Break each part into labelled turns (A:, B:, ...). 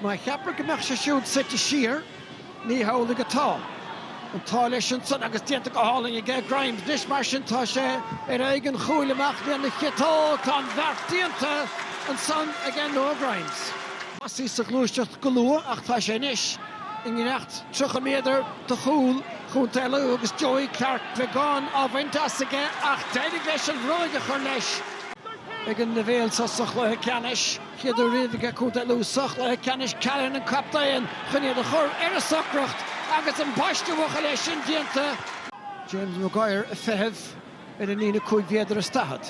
A: Má cheaptar go mbeadh sé siúd suite siar, ní hamhlaidh atá. An t-ádh leis ansan agus déanta go hálainn aige, Grimes, anois, mar sin tá sé ar aghaidh an chúil amach lena chiotóg, tá an beart déanta ansan aige Noah Grimes. Thosaigh sa ghluaiseacht go luath ach tá sé anois i ngleacht 30 méadar de chúl Chontae Lú agus Joey Clarke beagán á bhaint as aige ach d'éirigh leis an bhróg a chur leis ag an leibhéal so sa chluiche ceannais. Céad uair riamh aige Contae Lú sa chluiche ceannais Callan, an captaen, chun iad a chur ar a socracht agus an-phaiste, bhuachaill, é sin déanta. James Maguire ag feitheamh i ndán na líne cúig mhéadar is daichead.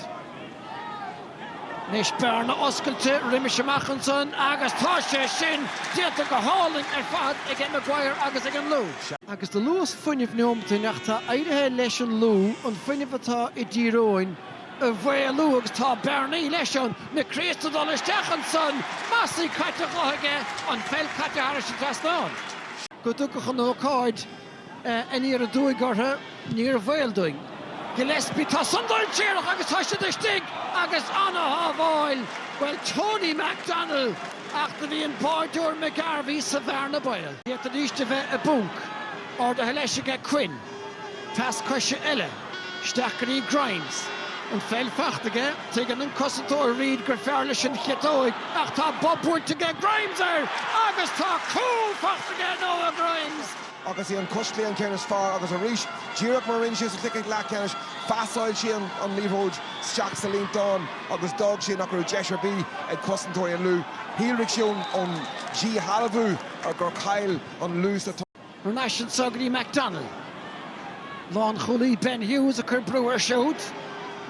A: Anois bearna oscailte roimis amach ansan agus tá sé sin déanta go hálainn ar fad ag Maguire agus ag an Lú. Agus de luas fuinnimh neomataí anois ach tá éirithe leis an Lú an fuinneamh atá i dTír Eoghain, a mhaolú agus tá bearnaí leis an McRea san ag dul isteach ansan, Mossey caite chuige aige, an pheil caite tharais an trasnán. dá dtiocfadh an ócáid aniar aduaidh orthu, níor bhaol dúinn. Gillespie, Tá san dainséarach agus tá siad istigh agus an-shábháil, bhuel Tony McDonnell ach do bhí an báireoir McGarvey sa bhearna baol. D'fhéadfaidís a bheith i bponc. Ardaithe leis aige Quinn. Pas coise eile isteach go dtí Grimes. An pheil fachta aige, tuigeann an cosantóir Reid gur fearr leis an chiotóig ach tá bob buailte aige Grimes air agus tá cúl fachta aige Noah Grimes! Agus í an cos
B: chlé an ceann is fearr agus arís, díreach mar a rinne sé sa chluiche leathcheannais, phasáil sé an liathróid isteach sa líontán agus d'fhág sé nach raibh deis ar bith ag cosantóirí an Lú. Shíolraigh san ón díshealbhú gur chaill an Lú sa. Ar ais ansan
A: go dtí McDonnell. Lánchúlaí Ben Hughes ag cur brú air siúd.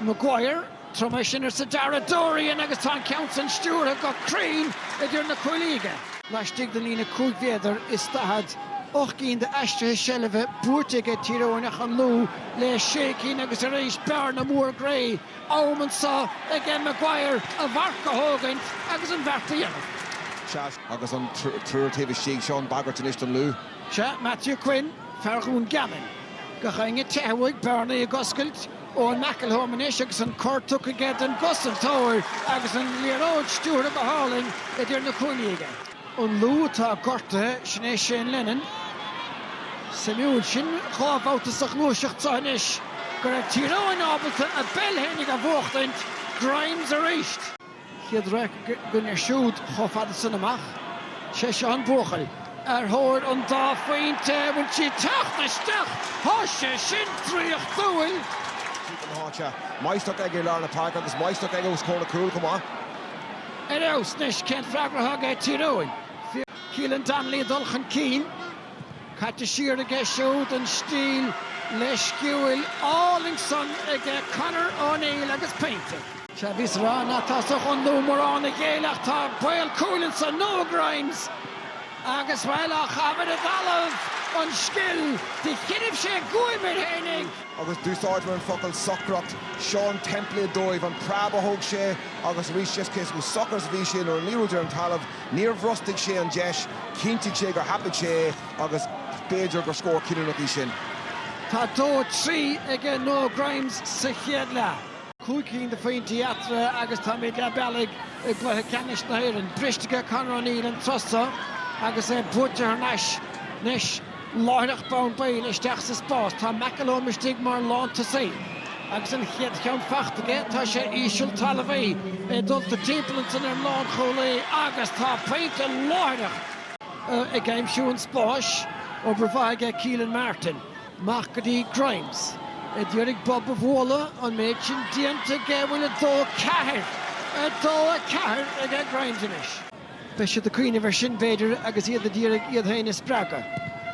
A: Maguire, tabhair dom é sin, arsa Dara Dorian agus tá an ceann san stiúrtha go cruinn idir na cuaillí aige. Laistigh den líne cúig mhéadar is daichead, ocht gcinn d'aistrithe seilbhe buaite aige Tír Eoghain ach an Lú le sé cinn agus arís bearna mhór Gray. Am anseo aige Maguire a mharc a thógaint agus an beart a dhéanamh. Agus
B: an triúr taobh istigh, seo an bhagairt anois don Lú. Sea,
A: Matthew Quinn, fear Dhún Geanainn. Gach éinne ag teitheadh uaidh, bearnaí ag oscailt, Eoin McElholm anois agus an cor tugtha aige don gcosantóir agus an liathróid stiúrtha go hálainn idir na cuaillí aige. An Lú atá gortaithe, sin é Shane Lennon. Suimiúil sin, dhá bhabhta sa ghluaiseacht seo anois go raibh Tír Eoghain ábalta a bpeil féinig a bhuachtaint, Grimes arís! chéad raic againne siúd chomh fada san amach. Sé seo an buachaill ar thóir an dá phointe, bhain siad teacht isteach, tá sé sin draíochtúil.
B: Máistreacht aige i lár na páirce agus máistreacht aige os comhair na cúl chomh maith. Ar fheabhas,
A: anois cén freagra atá aige Tír Eoghain? Caolan Donnelly ag dul chun cinn. Caite siar aige siúd an stíl leisciúil álainn san aige Conor O'Neill agus pointe. Sea, bhíos ag rá ná tá sa Ghunna mórán a ghéilleadh ach tá baol cúil ansan, Noah Grimes! Agus, bhuel, á chaitheamh i dtalamh an scil, do choinnibh sé guaim air féinig. Agus
B: d'úsáideamar an focal socracht, seo an template dóibh, an preab a thóg sé agus arís just cé chomh socair is a bhí sé nuair a liathróid ar an talamh, Níor bhrostaigh sé an deis, chinntigh sé gur thapaigh sé é agus b'fhéidir gur scór cinniúnach í sin. Tá dó
A: trí aige Noah Grimes sa chéad leath. Cúig cinn de phointí eatarthu agus táimid leath bealaigh i gcluiche ceannais na hÉireann. Briste aige Conor O'Neill an turas so agus é buaite thar n-ais anois. Láithreach bonn baill isteach sa spás tá McElholm istigh mar lántosaí. Agus an chéad cheann faighte aige tá sé íseal talmhaí, é dulta timpeall ansin ar an lánchúlaí agus tá pointe láithreach ag aimsiú an spáis, obair mhaith aige Keelan Martin. Amach go dtí Grimes. A d'iarraidh bob a bhualadh, an méid sin déanta aige bhuel 2, 4! 2, 4 aige Grimes anois. Beidh siad ag cuimhneamh air sin, b'fhéidir, agus iad a d'iarraidh iad féin a spreagadh.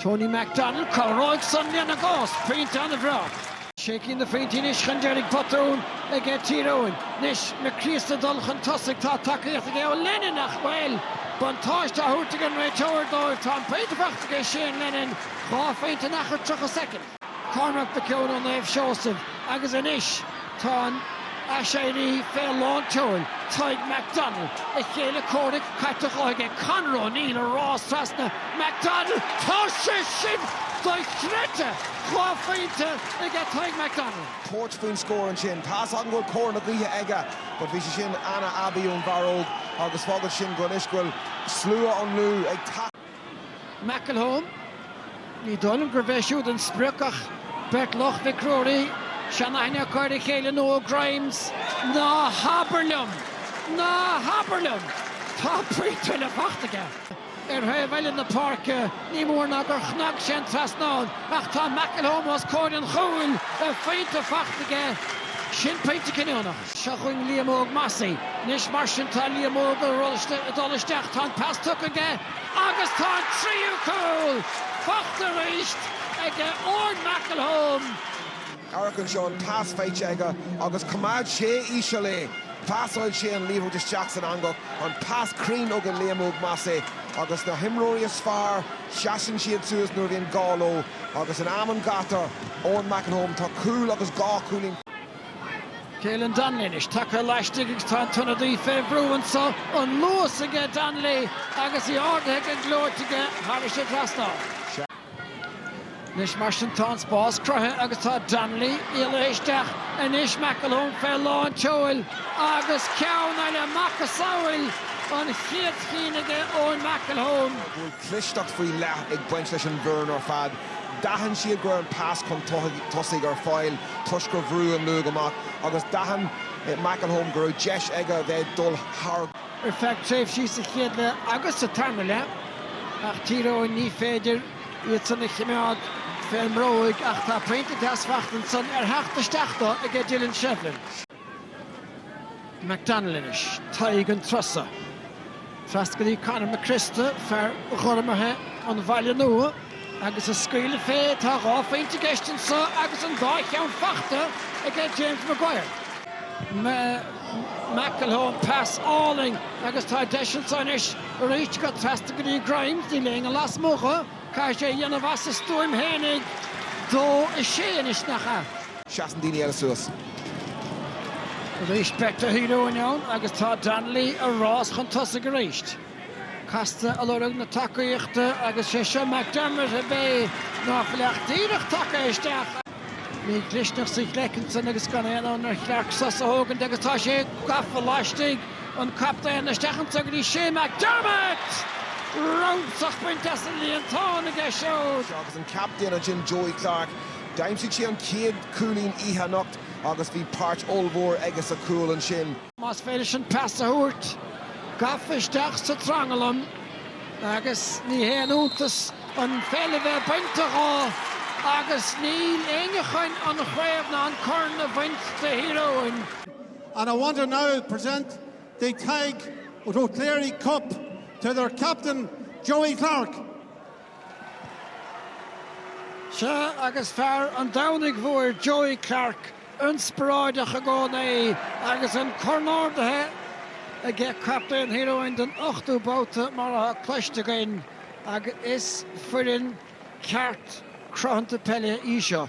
A: Tony McDonnell, Cabhróidh san lena gcás! Pointe an-bhreá. Sé cinn de phointí anois chun deiridh, botún aige Tír Eoghain. Anois Mac Críosta ag dul chun tosaigh, tá tacaíocht aige ó Lennon ach, bhuel! Buntáiste á thabhairt ag an réiteoir dóibh, tá an pointe faighte aige Shane Lennon, dhá phointe in achar 30 soicind. Cormac Mac Eoin ó Naomh Seosamh agus anois tá an t-aiséirí fé lán tseoil, Tadhg McDonnell, a chéile comhraic caite dhó aige, Conor O'Neill ag rás trasna McDonnell, Tá sé sin dochreidte! Dhá phointe aige Tadhg McDonnell. tabhairt faoin
B: scór ansin. Tá's agam go bhfuil cóir na gaoithe aige but bhí sé sin ana-aibí ón bhfear óg agus fágann sin go anois go bhfuil slua an Lú ag.
A: McElholm, Ní dóigh liom gurb é siúd an sprioc ach beirt Loch Mhic Ruairí, seanaithne acu ar a chéile Noah Grimes. Ná habair liom! Ná habair liom! Tá pointe eile fachta aige. Ar thaobh eile na páirce, ní mór ná gur chnag sé an trasnán ach tá McElholm os comhair an chúil, a phointe faighte aige. Sin pointe cinniúnach. Seo chugainn Liam Óg Mossey anois mar sin. Tá Liam Óg ag dul isteach. Tá an pas tugtha aige agus tá an tríú cúl faighte arís aige Eoin McElholm. Amharc
B: anseo, an pas faighte aige agus coimeád sé íseal é. Pasáil sé an liathróid isteach san eangach. An pas cruinn aige Liam Óg Mossey agus na himreoirí is fearr, seasann siad suas nuair a bhíonn gá leo agus in am an ghátair, Eoin McElholm, tá cúl agus dhá chúilín.
A: Caolan Donnelly anois tagtha laistigh agus tá an t-ionadaí fé bhrú anseo. An luas aige Donnelly agus í ardaithe go gleoite aige thar an trasnán. Anois mar sin tá an spás cruthaithe agus tá Donnelly éalaithe isteach. Anois McElholm fé lán tseoil agus ceann eile, macasamhail an chéad chinn aige Eoin McElholm.
B: clisteacht faoi leith ag baint leis an bhfoireann ar fad. D'aithin siad go raibh an pas chun tosaigh ar fáil toisc gur bhrúigh an Lú amach agus d'aithin McElholm go raibh deis aige a bheith ag dul thar ar feadh
A: tréimhsí sa chéad leath agus sa tarna leath ach Tír Eoghain ní féidir iadsan a chimeád fén mbróig ach tá pointe deas fachta ansan ar theacht isteach dó aige Dylan Shevlin. McDonnell anois, Tadhg an turas so. Trasna go dtí Conor Mac Criosta, fear Ghormaithe an Bhaile Nua, agus ag scaoileadh fé. Tá dhá phointe i gceist anseo agus an dá cheann fachta ag James Maguire. McElholm, pas álainn agus tá deis anseo anois arís trasna go dtí Grimes, níl éinne lasmuigh dhó. Caithfidh sé a dhéanamh as a stuaim féinig. Dó a sé anois, nach ea? Seasann daoine eile
B: suas. Arís
A: beirt de Thír Eoghain ann agus tá Donnelly ar rás chun tosaigh arís. Casta ag lorg na tacaíochta agus sé seo McDermott ab ea, ná fuil ach díreach tagtha isteach. Bhí Gluisneach sa ghleic ansin agus gan aon fhonn ar Chlearc sos a thógaint agus tá sé gafa laistigh. An captaen isteach anso go dtí Shea McDermott! Ramsach bainte as an líontán aige siúd. Agus an
B: captaen ansin, Joey Clarke, d'aimsigh sé an chéad chúilín oíche anocht agus bhí páirt ollmhór aige sa chúl ansin. Más féidir leis an
A: pas a thabhairt, gafa isteach sa tranglam agus ní haon iontas an pheil a bheith bainte dhó agus níl éinne chun an chraobh ná an corn a bhaint de Thír Eoghain. And
C: I want to now present the Tadhg Ó Cléirigh Cup to their captain, Joey Clarke.
A: Sea, agus fear an Domhnaigh Mhóir, Joey Clarke, inspioráideach i gcónaí agus an corn ardaithe aige, captaen Thír Eoghain don ochtú babhta, mar atá cloiste againn, agus is foireann ceart cruthanta peile í seo.